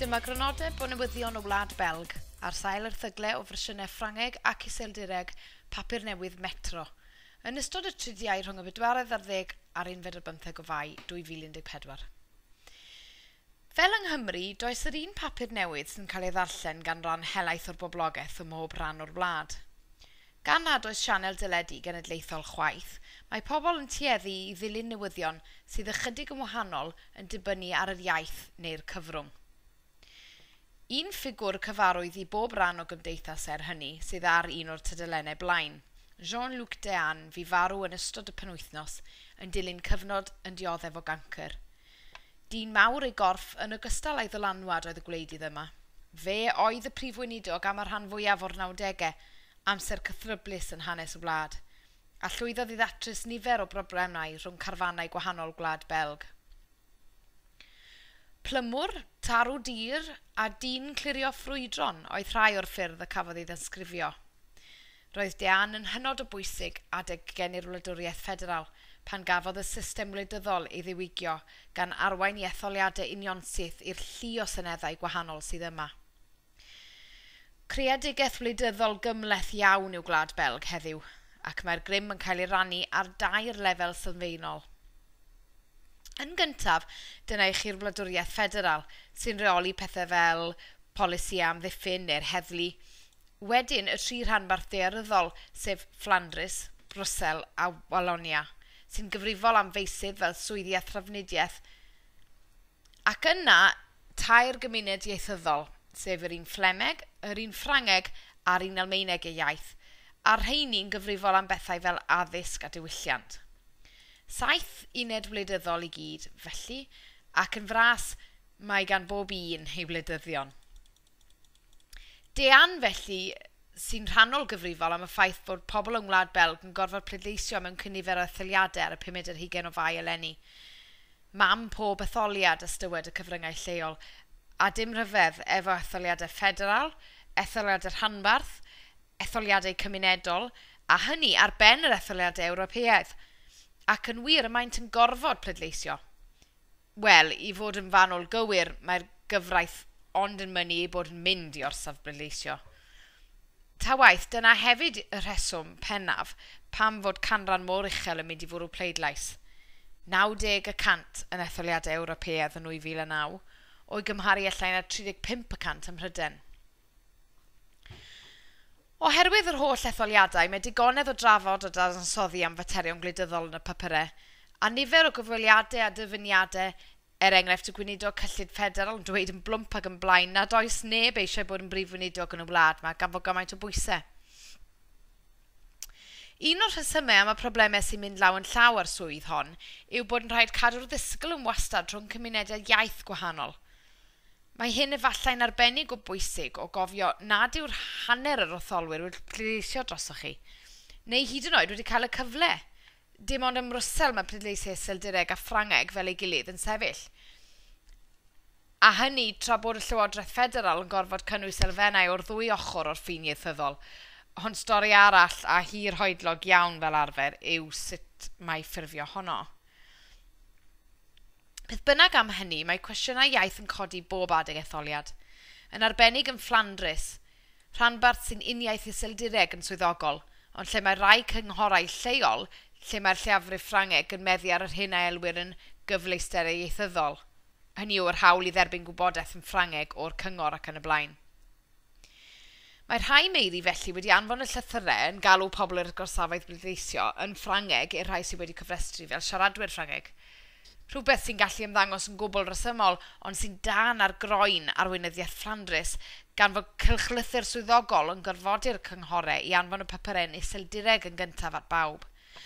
Dyma grynodeb o newyddion y Wlad Belg ar sail erthygle o fersiynau Ffrangeg ac Iseldireg papur newydd Metro. Yn ystod y tridiau rhwng y bedwaredd ar ddeg a'r unfed ar bymtheg o Fai 2014. Fel yng Nghymru, does yr un papur newydd sy'n cael ei ddarllen gan ran helaeth o'r boblogaeth ym mhob rhan o'r wlad. Gan nad oes sianel deledu genedlaethol chwaith, mae pobl yn tueddu i ddilyn newyddion sydd ychydig yn wahanol yn dibynnu ar yr iaith neu'r cyfrwng. Un ffigwr cyfarwydd i bob rhan o gymdeithas er hynny sydd ar un o'r tudalennau blaen, Jean-Luc Deane fu farw yn ystod y penwythnos yn dilyn cyfnod yn dioddef o gancr. Dyn mawr ei gorff yn ogystal â'i ddylanwad oedd y gwleidydd yma. Fe oedd y prif weinidog am y rhan fwyaf o'r nawdegau, amser cythryblus yn hanes y wlad, a llwyddodd i ddatrys nifer o broblemau rhwng carfannau gwahanol gwlad Belg. Plymwr, tarw dur, a dyn clirio ffrwydron oedd rhai o'r ffyrdd y cafodd ei ddisgrifio. Roedd Deanne yn hynod o bwysig adeg gen i'r Wladwriaeth Ffederal pan gafodd y system wleidyddol ei ddiwygio gan arwain i etholiadau unionsyth i'r llu o seneddau gwahanol sydd yma. Creadigaeth wleidyddol gymhleth iawn yw Gwlad Belg heddiw, ac mae'r grym yn cael ei rannu ar dair lefel sylfaenol. Yn gyntaf, dyna i chi'r wladwriaeth ffederal, sy'n rheoli pethau fel polisi a amddiffyn neu'r heddlu. Wedyn, y tri rhanbarth ddaearyddol, sef Fflandrys, Brwsel a Walonia, sy'n gyfrifol am feysydd fel swyddi a thrafnidiaeth, Ac yna, tair gymuned ieithyddol, sef yr un Fflemeg, yr un Ffrangeg a'r un Almaeneg eu iaith, a'r rheini'n gyfrifol am bethau fel addysg a diwylliant. Saith uned wleidyddol i gyd, felly, ac yn fras, mae gan bob un ei wleidyddion. Dean, felly, sy'n rhannol gyfrifol am y ffaith bod pobl yng Ngwlad Belg yn gorfod pleidleisio mewn cynifer o etholiadau ar y pumed ar hugain o Fai eleni. Mam pob etholiad, ystywed y cyfryngau lleol, a dim rhyfedd efo etholiadau ffederal, etholiadau rhanbarth, etholiadau cymunedol, a hynny ar ben yr etholiadau Ewropeaidd. Ac yn wir, y maent yn gorfod pleidleisio. Wel, i fod yn fanwl gywir, mae'r gyfraith ond yn mynnu ei bod yn mynd i orsaf bleidleisio. Ta waeth, dyna hefyd y rheswm pennaf pam fod canran mor uchel yn mynd i fwrw pleidlais, 90 y cant yn etholiadau Ewropeaidd yn 2009, o'i gymharu â llai na 35 y cant ym Mhrydain. Oherwydd yr holl etholiadau, mae digonedd o drafod a dadansoddi am faterion gwleidyddol yn y papurau, a nifer o gyfweliadau a dyfyniadau, er enghraifft y Gweinidog cyllid ffederal yn dweud yn blwmp ac yn blaen nad oes neb eisiau bod yn brif weinidog yn y wlad 'ma gan fod gymaint o bwysau. Un o'r rhesymau am y problemau sy'n mynd law yn llaw â'r swydd hon yw bod yn rhaid cadw'r ddisgl yn wastad rhwng cymunedau iaith gwahanol. Mae hyn efallai'n arbennig o bwysig o gofio nad yw'r hanner yr otholwyr wedi pleidleisio drosoch chi, neu hyd yn oed wedi cael y cyfle. Dim ond ym Mrwsel mae pleidleisiau Iseldireg a Ffrangeg fel ei gilydd yn sefyll, a hynny tra bod y Llywodraeth Ffederal yn gorfod cynnwys elfennau o'r ddwy ochr o'r ffin ieithyddol. Ond stori arall, a hirhoedlog iawn fel arfer, yw sut mae ffurfio honno. Beth bynnag am hynny, mae cwestiynau iaith yn codi bob adeg etholiad. Yn arbennig yn Fflandrys, rhanbarth sy'n uniaith Iseldireg yn swyddogol, ond lle mae rhai cynghorau lleol lle mae'r lleiafrif Ffrangeg yn meddu ar yr hyn a elwir yn 'gyfleusterau ieithyddol', hynny yw yr hawl i dderbyn gwybodaeth yn Ffrangeg o'r cyngor ac yn y blaen. Mae rhai meiri felly wedi anfon y llythyrau yn galw pobl i'r gorsafoedd bleidleisio yn Ffrangeg i'r rhai sydd wedi cofrestru fel siaradwyr Ffrangeg. Rhywbeth sy'n gallu ymddangos yn gwbl resymol ond sy'n dân ar groen arweinyddiaeth Fflandrys gan fod cylchlythyr swyddogol yn gorfodi'r cynghorau i anfon y papurau yn Iseldireg yn gyntaf at bawb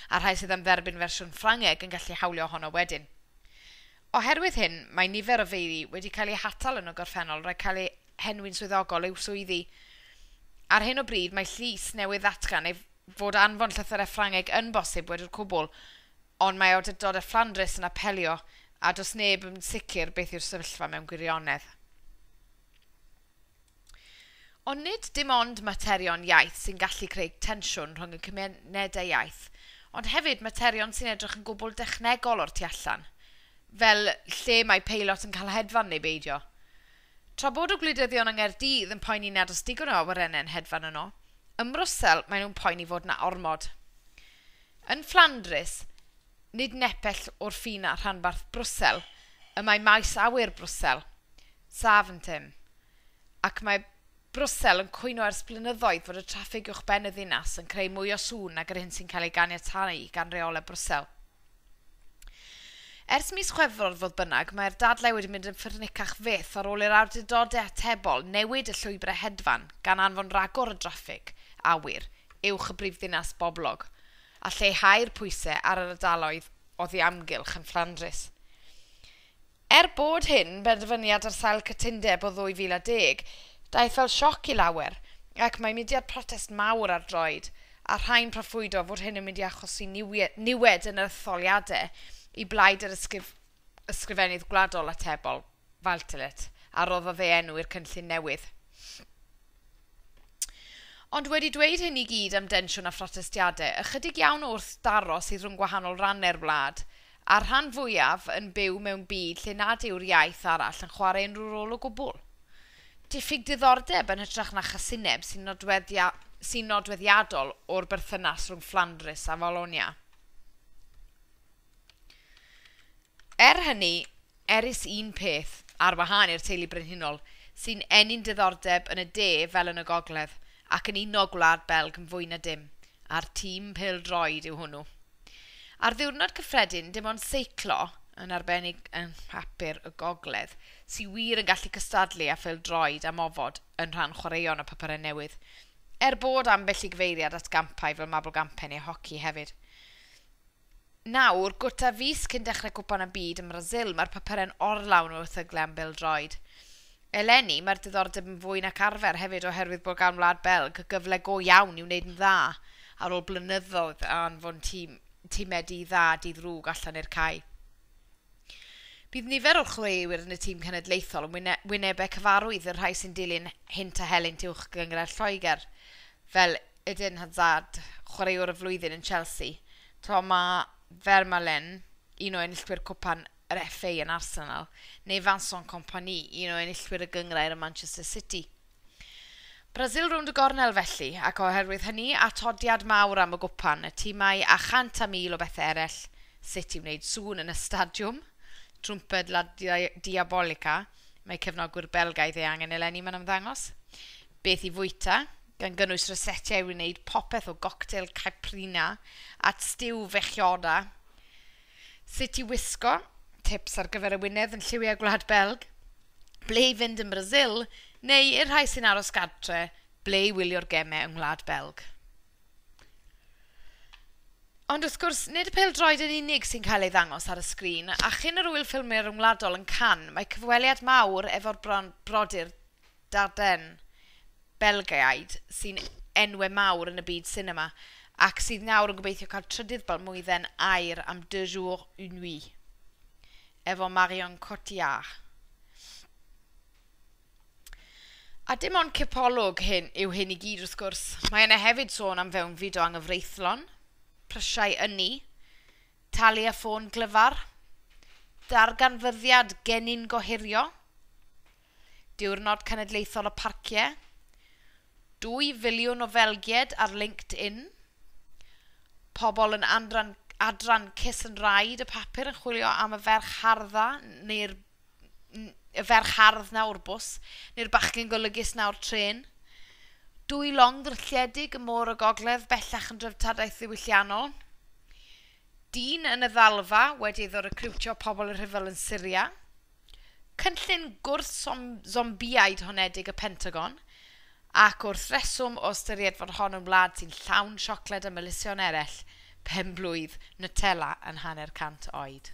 a'r rhai sydd am dderbyn fersiwn Ffrangeg yn gallu hawlio ohono wedyn. Oherwydd hyn mae nifer o feiri wedi cael eu hatal yn y gorffennol rhag cael eu henwi'n swyddogol i'w swyddi. Ar hyn o bryd, mae llys newydd ddatgan ei fod anfon llythyrau Ffrangeg yn bosib wedi'r cwbl, ond mae awdurdod y Fflandrys yn apelio a does neb yn sicr beth yw'r sefyllfa mewn gwirionedd. Ond nid dim ond materion iaith sy'n gallu creu tensiwn rhwng y cymunedau iaith, ond hefyd materion sy'n edrych yn gwbl dechnegol o'r tu allan, fel lle mae peilot yn cael hedfan neu beidio. Tra bod y gwleidyddion yng Nghaerdydd yn poeni nad oes digon o awyrennau'n hedfan yno, ym Mrwsel maen nhw'n poeni fod 'na ormod. Yn Fflandrys, nid nepell o'r ffin a rhanbarth Brwsel, y mae maes awyr Brwsel, Zaventem, ac mae Brwsel yn cwyno ers blynyddoedd fod y traffig uwchben y ddinas yn creu mwy o sŵn nag yr hyn sy'n cael ei ganiatáu gan reolau Brwsel. Ers mis Chwefror, fodd bynnag, mae'r dadlau wedi mynd yn ffyrnicach fyth ar ôl i'r awdurdodau atebol newid y llwybrau hedfan gan anfon ragor o draffig awyr uwch y brifddinas boblog a lleihau'r pwysau ar yr ardaloedd oddi amgylch yn Fflandrys. Er bod hyn benderfyniad ar sail cytundeb o 2010, daeth fel sioc i lawer, ac mae mudiad protest mawr ar droed, a rhai'n proffwydo fod hyn yn mynd i achosi niwed yn yr etholiadau i blaid yr Ysgrifennydd Gwladol Atebol, Valtelet, a roddodd ei enw i'r cynllun newydd. Ond wedi dweud hyn i gyd am densiwn a phrotestiadau, ychydig iawn wrth daro sydd rhwng gwahanol rannau'r wlad, a'r rhan fwyaf yn byw mewn byd lle nad yw'r iaith arall yn chwarae unrhyw rôl o gwbl. Diffyg diddordeb yn hytrach na chasineb sy'n nodweddiadol o'r berthynas rhwng Fflandrys a Wallonia. Er hynny, er is un peth, ar wahân i'r teulu brenhinol, sy'n ennyn diddordeb yn y De fel yn y Gogledd, ac yn uno Gwlad Belg yn fwy na dim, a'r tîm pêl-droed yw hwnnw. Ar ddiwrnod cyffredin, dim ond seiclo, yn arbennig yng Nghapur y Gogledd, sy wir yn gallu cystadlu â phêl-droed am ofod yn rhan chwaraeon y Papurau Newydd, er bod ambell i gyfeiriad at gampau fel Mabolgampen neu hoci hefyd. Nawr, gwta fis cyn dechrau Cwpan y Byd yn Brasil, mae'r papurau'n orlawn o erthygle am bêl-droed. Eleni, mae'r diddordeb yn fwy nac arfer, hefyd oherwydd bod gan Wlad Belg gyfle go iawn i wneud yn dda ar ôl blynyddoedd o anfon tîm, timau di dda, di ddrwg allan i'r cae. Bydd nifer o'r chwaraewyr yn y tîm cenedlaethol yn wynebau cyfarwydd y rhai sy'n dilyn hynt a helynt uwch gynghrair Lloegr, fel Eden Hazard, Chwaraewr y Flwyddyn yn Chelsea. Tra mae Vermaelen, un o enillwyr Cwpan yr FA yn Arsenal, neu Vincent Kompany, un o enillwyr y gynghrair yn Manchester City. Brasil rownd y gornel felly, ac oherwydd hynny, atodiad mawr am y gwpan, y timau a chant a mil o bethau eraill, sut i wneud sŵn yn y stadiwm, trwmped La Diabolica, mae cefnogwyr Belgaidd ei angen eleni, mae'n ymddangos, beth i fwyta, gan gynnwys rysetiau i wneud popeth o goctel caiprina at stiw fechioda, sut i wisgo, tips ar gyfer y wyneb yn lliwiau Gwlad Belg, ble i fynd yn Brasil, neu i'r rhai sy'n aros gartre, ble i wylio'r gemau yng Ngwlad Belg. Ond wrth gwrs, nid y pêl-droed yn unig sy'n cael ei ddangos ar y sgrin, a chyn yr Ŵyl Ffilmio Ryngwladol yn Cannes, mae cyfweliad mawr efo'r brodyr Dardenne, Belgiaid sy'n enwau mawr yn y byd sinema, ac sydd nawr yn gobeithio cael trydydd balmwydden aur am Deux jours, une nuit, efo Marion Cotillard. A dim ond cipolwg hyn yw hyn i gyd wrth gwrs, mae yna hefyd sôn am fewnfyd o anghyfreithlon, prysiau ynni, talu â ffôn glyfar, darganfyddiad genyn gohirio, Diwrnod Cenedlaethol y Parciau, Dwy filiwn o Felgied ar LinkedIn, Pobl yn andran, adran Kiss and Ride y papur yn chwilio am y ferch hardda neu'r y ferch hardd na o'r bws, neu'r bachgen golygus na o'r trên. Dwy long ddrylliedig y môr y gogledd bellach yn dreftadaeth ddiwylliannol. Dyn yn y ddalfa wedi iddo recriwtio pobl y rhyfel yn Syria. Cynllun gwrth-zombiaid honedig y Pentagon, ac wrth reswm o ystyried fod hon yn wlad sy'n llawn siocled a melysion eraill, pen-blwydd Nutella yn hanner cant oed.